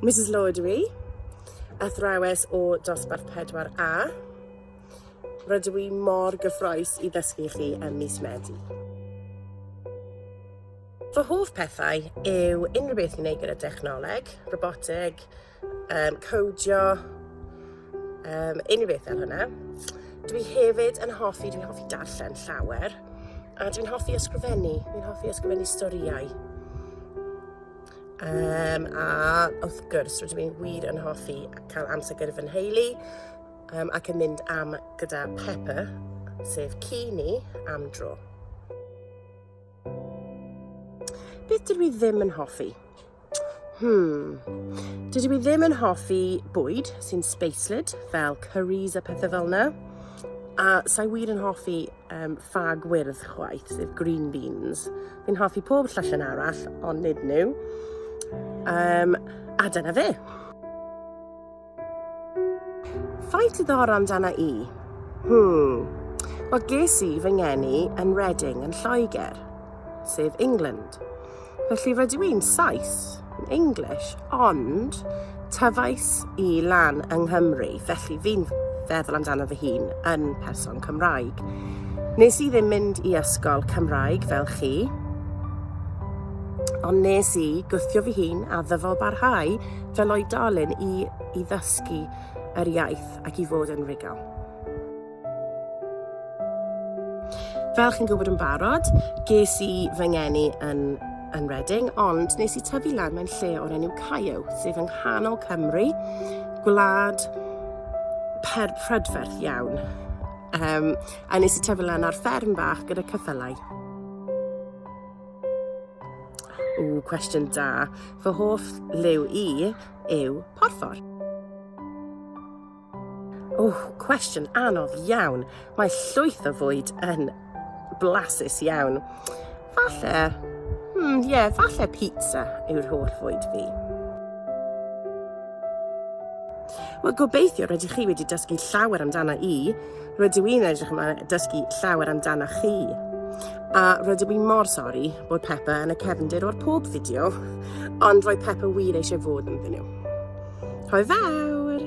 Mrs Lloyd ydw i, athrawes o dosbarth 4A. Rydw i mor gyffroes i ddysgu chi ym mis Medi. Fy hoff pethau yw unrhyw beth i wneud gyda dechnoleg, robotig, um, codio, um, unrhyw beth fel hwnna. Dwi hefyd yn hoffi, dwi'n hoffi darllen llawer, a dwi'n hoffi ysgrifennu, dwi'n hoffi ysgrifennu storïau. Um, a wrth gwrs, rydw i'n wir yn hoffi cael amser gyda fy nheulu um, ac yn mynd am gyda Pepper, sef ci ni, am dro. Beth dydw i ddim yn hoffi? Hmm. Dydw i ddim yn hoffi bwyd sy'n spaced, fel curries a pethau fel yna. A sa'i wir yn hoffi um, ffag wyrdd chwaith, sef green beans. Fi'n hoffi pob llallyn arall, ond nid nhw. Um, a dyna fe. Faint diddorol amdana i? Hmm. Wel, ges i fy ngeni yn Reading yn Lloegr, sef England. Felly rydw i'n Sais, yn English, ond tyfais i lan yng Nghymru, felly fi'n feddwl amdano fy hun yn person Cymraeg. Nes i ddim mynd i ysgol Cymraeg fel chi, ond nes i gwthio fy hun a ddyfo barhau Fel oedolyn i i ddysgu yr iaith ac i fod yn rigel. Fel chi'n gwybod yn barod, ges i fy ngeni yn, yn Reading, ond nes i tyfu lan mewn lle o'r enw Caio, sef yng nghanol Cymru, gwlad per prydferth iawn. Um, a nes i tyfu lan ar fferm bach gyda cyffylau. O, cwestiwn da. Fy hoff liw i yw porffor. O, cwestiwn anodd iawn. Mae llwyth o fwyd yn blasus iawn. Falle, hmm, ie, yeah, falle pizza yw'r holl fwyd fi. Wel, gobeithio rydych chi wedi dysgu llawer amdana i Rydw i'n edrych ymlaen dysgu llawer amdano chi. A rydw i mor sori bod Peppa yn y cefndir o'r pob fideo, ond roedd Peppa wir eisiau fod yn ddyn nhw. Hoi fawr!